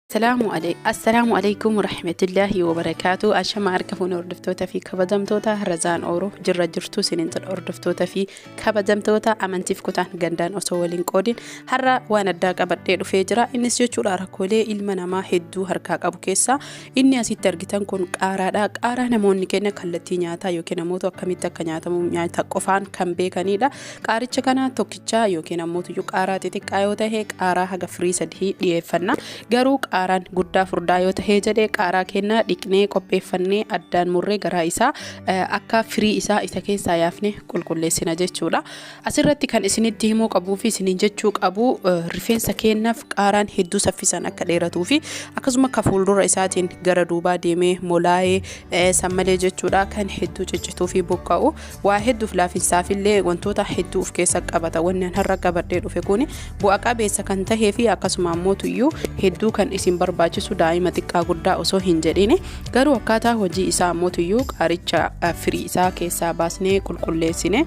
Assalaamu alay- Assalaamu alaikum warahmatullaahi wabarakaatu ashama harka fuune hordoftoota fi kabajamtoota razaan ooruu jirra jirtu isiniin jedha hordoftoota fi kabajamtoota amantiif kutaan gandaan osoo waliin qoodin har'a waan addaa qabadhee dhufee jira innis jechuudha rakkoolee ilma namaa hedduu harkaa qabu keessaa inni asitti argitan kun qaaraadha qaaraa namoonni keenya kallattii nyaataa yookiin namoota akkamitti akka nyaatamu nyaata qofaan kan beekanidha Qaaricha kana tokkichaa yookiin ammoo tuyyuu qaaraa xixiqqaa yoo ta'e qaaraa haga firii sadii dhiyeeffanna. Garuu qaaraan guddaa furdaa yoo ta'e jedhe qaaraa keenya dhiqnee qopheeffannee addaan murree garaa isaa akka firii isaa isa keessaa yaafne qulqulleessina jechuudha. Asirratti kan isinitti himuu qabuu fi isiniin jechuu qabu rifeensa keenyaaf qaaraan hedduu saffisaan akka dheeratuu fi akkasuma akka fuuldura isaatiin gara duubaa deemee molaa'ee sammalee jechuudha kan hedduu ciccituu fi buqqa'u Waa hedduuf laafinsaafillee wantoota hedduu of keessa qabata. Wanni an har'a qabadhee dhufe kun bu'a qabeessa kan tahee fi akkasuma ammoo tuyyuu hedduu kan isin barbaachisu daa'ima xiqqaa guddaa osoo hin jedhine garuu akkaataa hojii isaa ammoo tuyyuu qaaricha firii isaa keessaa baasnee qulqulleessine.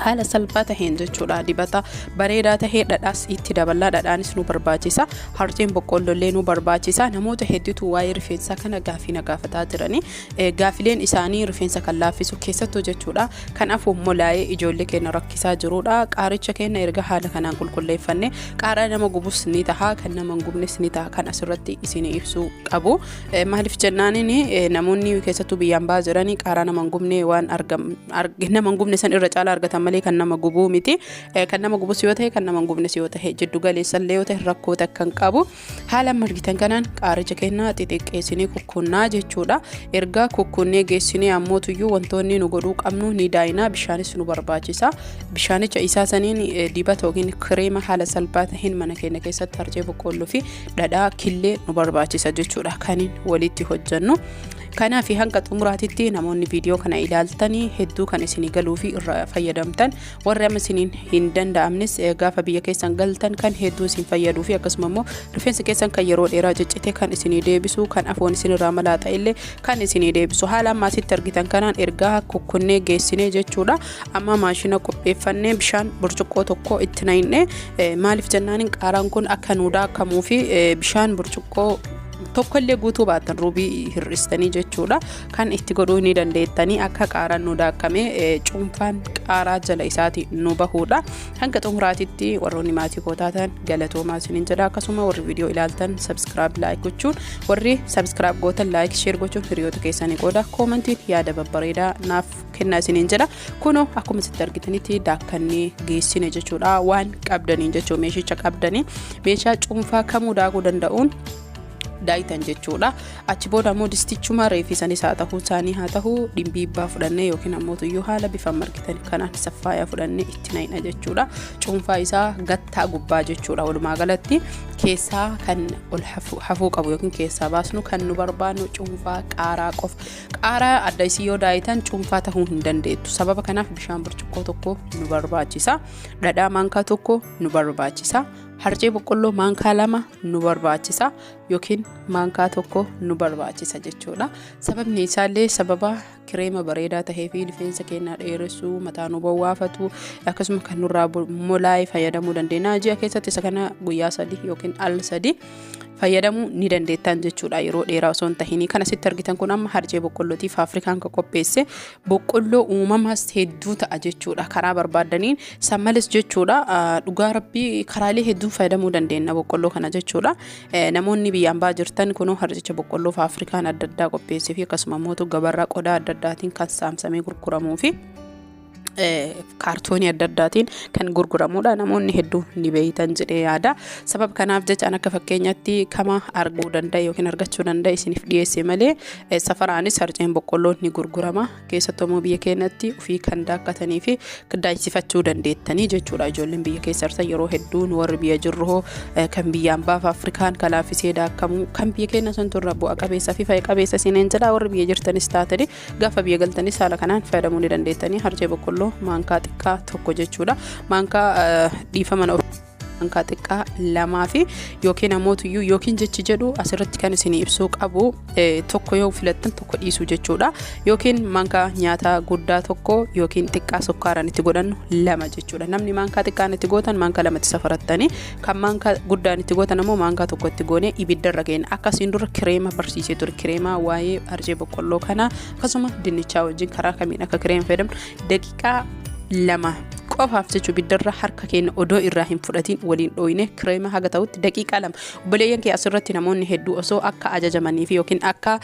haala salphaa taheen jechuudha dibata bareedaa tahee dhadhaas itti daballaa dhadhaanis nu barbaachisa harceen boqqoolloollee nu barbaachisa namoota hedduutu waa'ee rifeensaa kana gaafii na gaafataa jiranii Gaafileen isaanii rifeensa kan laaffisu keessattuu jechuudha. Kan afuuf molaa'ee ijoollee keenya rakkisaa jirudha. Qaaricha keenya erga haala kanaan qulqulleeffanne qaaraa nama gubus ni taha kan nama hin gubnes ni taha kan asirratti isin ibsuu qabu. Maaliif jennaaniin namoonni keessattuu biyyaan ba'aa jiranii qaaraa nama hin gubne waan nama hin gubne san irra caalaa argatan malee kan nama gubuu miti. Kan nama gubus yoo ta'e kan nama hin gubnes yoo ta'e jiddu galeessallee yoo ta'e rakkoo takka hin qabu. Haala amma argitan kanaan qaaricha kennaa xixiqqeessinee kukkunnaa jechuudha. Erga kukkunnee geessinee ammootuyyuu wantoonni nu godhuu qabnu ni daayinaa bishaanis nu barbaachisa. Bishaanicha isaa saniin dibata yookiin kireema haala salphaa ta'een mana keenya keessatti harcee boqqoolloo fi dhadhaa killee nu barbaachisa jechuudha kaniin walitti hojjennu. Kanaaf hanga xumuraatitti namoonni viidiyoo kana ilaaltanii hedduu kan isinii galuu fi irraa fayyadamtan warri amma isiniin hin danda'amnes gaafa biyya keessan galtan kan hedduu isin fayyaduu fi akkasuma immoo rifeensi keessan kan yeroo dheeraa ciccite kan isinii deebisu kan afoon isinirraa malaaxa illee kan isinii deebisu haala ammaa asitti argitan kanaan ergaa kukkunnee geessinee jechuudha amma maashina qopheeffannee bishaan burcuqqoo tokko itti naqnee maaliif jennaan qaaraan kun akka nu daakamuu fi bishaan burcuqqoo tokkollee guutuu baatan ruubii hir'istanii jechuudha kan itti godhuu ni dandeettanii akka qaaraan nu daakkamee cuunfaan qaaraa jala isaati nu bahuudha hanga xumuraatitti warroonni maatii koo taatan galatoomaa isiniin jedha akkasuma warri viidiyoo ilaaltan sabskiraab laayik gochuun warri sabskiraab gootan laayik sheer gochuun hiriyoota keessanii qooda koomantiin yaada babbareedaa naaf kennaa isiniin jedha kunoo akkuma sitti argitanitti daakkannee geessine jechuudha waan qabdaniin jechuu meeshicha qabdanii meeshaa cuunfaa kamuu daakuu danda'uun daayitan jechuudha achi booda ammoo distichuma reefi sanis haa ta'uu isaanii haa ta'uu dhimbiibbaa fudhannee yookiin ammoo tuyyuu haala bifa margitan kanaan saffaayaa fudhannee itti naqna jechuudha cuunfaa isaa gattaa gubbaa jechuudha walumaa galatti keessaa kan ol hafuu qabu yookiin keessaa baasnu kan nu barbaadnu cuunfaa qaaraa qofa qaaraa adda isii yoo daayitan cuunfaa ta'uu hin dandeettu sababa kanaaf bishaan burcuqqoo tokko nu barbaachisa dhadhaa maankaa tokko nu barbaachisa harcee boqqolloo maankaa lama nu barbaachisa yookiin maankaa tokko nu barbaachisa jechuudha. Sababni isaallee sababa kireema bareedaa tahee fi rifeensa keenyaa dheeressuu, mataa nu bowwaafatu akkasuma kan nurraa molaa'e fayyadamuu dandeenya. Ji'a keessatti isa kana guyyaa sadii yookiin al sadii fayyadamuu ni dandeettan jechuudha yeroo dheeraa osoo hin tahinii. Kan asitti argitan kun amma harcee boqqollootiif Afrikaan kan qopheesse boqqolloo uumamas hedduu ta'a jechuudha karaa barbaaddaniin san malees jechuudha dhugaa rabbii karaalee hedduun fayyadamuu dandeenya boqqolloo kana jechuudha namoonni biyyaan baa jirtan kunoo harcicha boqqolloo fi afrikaan adda addaa qopheessee fi akkasuma immoo gabarraa qodaa adda addaatiin kan saamsamee gurguramuu fi kaartoonii adda addaatiin kan gurguramudha namoonni hedduu ni beeytan jedhee yaada sabab kanaaf jechaan akka fakkeenyatti kama arguu danda'a yookiin argachuu danda'a isiniif dhiyeesse malee Safaraanis harceen boqqolloo ni gurgurama. Keessattuu immoo biyya keenyatti ofii kan daakkatanii fi qiddaachifachuu dandeettanii jechuudha. Ijoolleen biyya keessa harsan yeroo hedduu nu warri biyya jirru hoo kan biyyaan baaf Afrikaan kan laaffisee daakamu kan biyya keenya santu irra bu'a qabeessa fi fayyada qabeessa siineen jedha warri biyya jirtanis taatanii gaafa biyya galtanis haala kanaan fayyadamuu ni dandeettanii harcee boqqolloo maankaa xiqqaa tokko jechuudha. Maankaa dhiifama hankaa xiqqaa lamaa fi yookiin amootuyyuu yookiin jechi jedhu asirratti kan isin ibsuu qabu tokko yoo filattan tokko dhiisuu jechuudha yookiin mankaa nyaataa guddaa tokko yookiin xiqqaa sukkaaraan itti godhannu lama jechuudha namni mankaa xiqqaan itti gootan mankaa lamatti safarattanii kan mankaa guddaan itti gootan ammoo mankaa tokko itti goonee ibiddarra keenya akkasiin dura kireema barsiisee ture kireemaa waa'ee arjee boqqolloo kana akkasuma dinnichaa wajjin karaa kamiin akka kireema fayyadamnu daqiiqaa lama qofaaf jechuu biddarra harka keenya odoo irraa hin fudhatiin waliin dhooyne kireema haga ta'utti daqiiqaa lama obboleeyyan kee asirratti namoonni hedduu osoo akka ajajamanii fi yookiin akka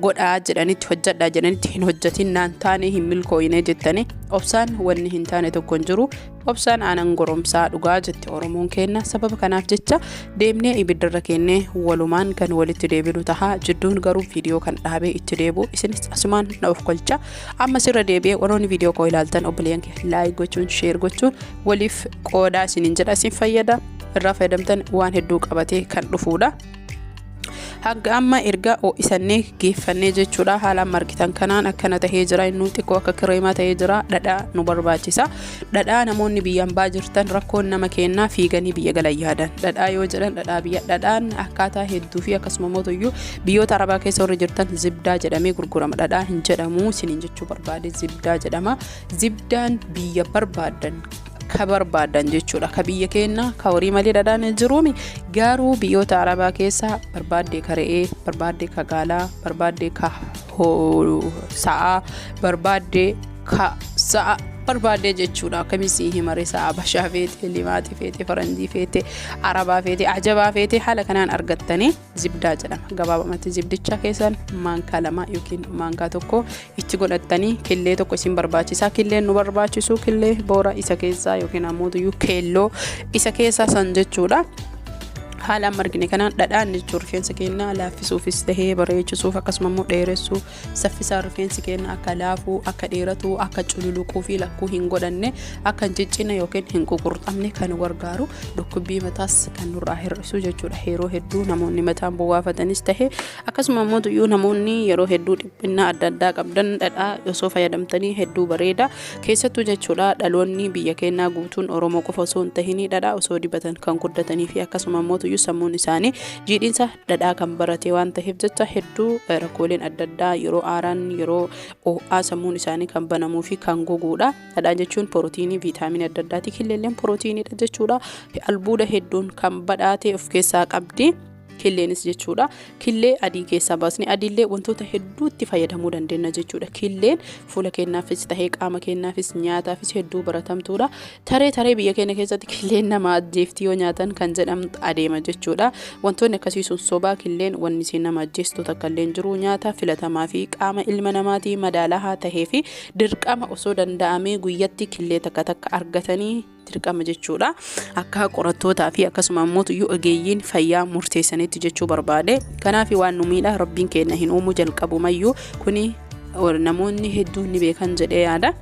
godhaa jedhanitti hojjadhaa jedhanitti hin hojjatin naan taane hin milkooyne jettanii obsaan wanni hin taane tokko hin jiru Obsaan aanan goromsaa dhugaa jette Oromoon keenna sababa kanaaf jecha deemnee ibiddarra keennee walumaan kan walitti deebinu taha jidduun garuu viidiyoo kan dhaabee itti deebu isinis asumaan na of kolcha ammas irra deebi'ee warroonni viidiyoo koo ilaaltan obboleeyyan kee laayik gochuun sheer gochuun waliif qoodaa isiniin jedha isin fayyada irraa fayyadamtan waan hedduu qabatee kan dhufuudha. hanga amma erga ho'isannee geeffannee jechuudha haala amma argitan kanaan akkana tahee jira inni xiqqoo akka kireemaa tahee jira dhadhaa nu barbaachisa dhadhaa namoonni biyya ambaa jirtan rakkoon nama kennaa fiiganii biyya galan yaadan dhadhaa yoo jedhan dhadhaa biyya dhadhaan akkaataa hedduu fi akkasuma mootuyyuu biyyoota arabaa keessa warri jirtan zibdaa jedhamee gurgurama dhadhaa hin jedhamu isiniin jechuu barbaade zibdaa jedhama zibdaan biyya barbaadan ka barbaadan jechuudha ka biyya keenya ka horii malee dhadhaan hin jiruumi garuu biyyoota arabaa keessaa barbaadde ka re'ee barbaadde ka gaalaa barbaadde ka sa'aa barbaadde ka sa'a barbaadde jechuudha akkamitti himare sa'a bashaa feete limaaxi feete faranjii feete arabaa feete ajabaa feete haala kanaan argattanii zibdaa jedhama gabaabamatti zibdicha keessan maankaa lama yookiin maankaa tokko itti godhattanii killee tokko isin barbaachisa killeen nu barbaachisu killee boora isa keessaa yookiin ammoo tuyyuu keelloo isa keessaa san jechuudha. haala amma argine kanaan dhadhaan jechuun rifeensa keenya laaffisuufis tahee bareechisuuf akkasuma immoo dheeressuuf Saffisaan rifeensi keenya akka laafu, akka dheeratu, akka cululuquu fi lakkuu hin godhanne, akka hin ciccine yookiin hin ququrxamne kan nu gargaaru, dhukkubbii mataas kan nurraa hir'isu jechuudha. Yeroo hedduu namoonni mataan bowwaafatanis ta'e akkasuma immoo iyyuu namoonni yeroo hedduu dhiphinnaa adda addaa qabdan dhadhaa osoo fayyadamtanii hedduu bareeda. Keessattuu jechuudha dhaloonni biyya keenyaa guutuun Oromoo qofa osoo hin tahinii dhadhaa osoo dibatan kan guddatanii fi akkasuma immoo iyyuu sammuun isaanii jiidhinsa dhadhaa kan barate waan taheef jecha hedduu rakkooleen adda addaa yeroo aaraan yeroo oo'aa sammuun isaanii kan banamuu fi kan goguudha. Dhadhaa jechuun pirootiinii viitaaminii adda addaati. Killeelleen pirootiiniidha jechuudha. Albuuda hedduun kan badhaate of keessaa qabdi. Killeenis jechuudha. Killee adii keessaa baasne adiillee wantoota hedduutti fayyadamuu dandeenya jechuudha. Killeen Fuula keenyaafis tahee qaama keenyaafis nyaataafis hedduu baratamtuudha. Taree taree biyya keenya keessatti killeen nama ajjeefti yoo nyaatan kan jedhamu adeema jechuudha. Wantoonni akkasii sun sobaa killeen wanni isiin nama ajjeestu takka illee jiru nyaata filatamaa fi qaama ilma namaatii madaalahaa tahee fi dirqama osoo danda'amee guyyatti killee takka takka argatanii dirqama jechuudha. Akka qorattootaa fi akkasuma ammoo iyyuu ogeeyyiin fayyaa murteessanitti jechuu barbaade. Kanaaf waan nu miidha rabbiin keenya hin uumu jalqabumayyuu kuni namoonni hedduun ni beekan jedhee yaada.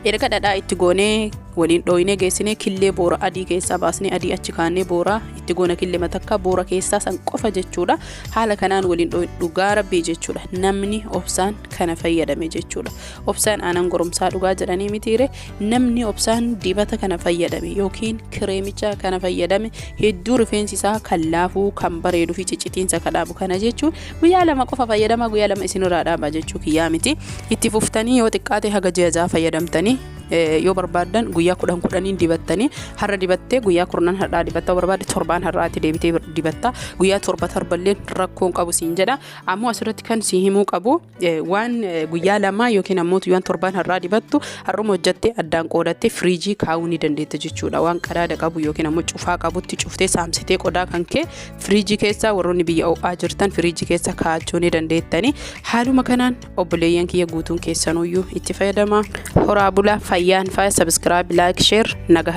Erga dhadhaa itti goonee waliin dhooyinee geessinee killee boora adii keessaa baasnee adii achi kaanee boora itti goona killee matakka boora keessaa san qofa jechuudha. Haala kanaan waliin dhooyin dhugaa rabbii jechuudha. Namni obsaan kana fayyadame jechuudha. Obsaan aanan goromsaa dhugaa jedhanii mitiire Namni obsaan dibata kana fayyadame yookiin kireemicha kana fayyadame hedduu rifeensi isaa kan laafuu kan bareeduu fi ciccitiinsa kan dhaabu kana jechuun guyyaa lama qofa fayyadama guyyaa lama isinirraa dhaaba jechuu kiyyaa miti itti fuftanii yoo xiqqaate haga ji'a ja'a fayyadamtanii eh, yoo barbaaddan guyyaa kudhan kudhaniin dibattanii har'a dibattee guyyaa kurnan har'aa dibatta barbaadde torbaan har'aatti deebitee dibatta guyyaa torba torballeen rakkoon qabu siin jedha ammoo asirratti kan si himuu qabu waan guyyaa lamaa yookiin ammoo waan torbaan har'aa dibattu har'uma hojjattee addaan qoodattee firiijii kaa'uu ni dandeetta jechuudha waan qadaada qabu yookiin ammoo cufaa qabutti cuftee saamsitee qodaa kan kee firiijii keessaa warroonni biyya ho'aa jirtan firiijii keessa kaa'achuu ni dandeettani haaluma kanaan obboleeyyan kiyya guutuun keessanuyyuu itti fayyadama horaa bulaa fayyaan faaya sabiskiraayib laayik sheer nagaa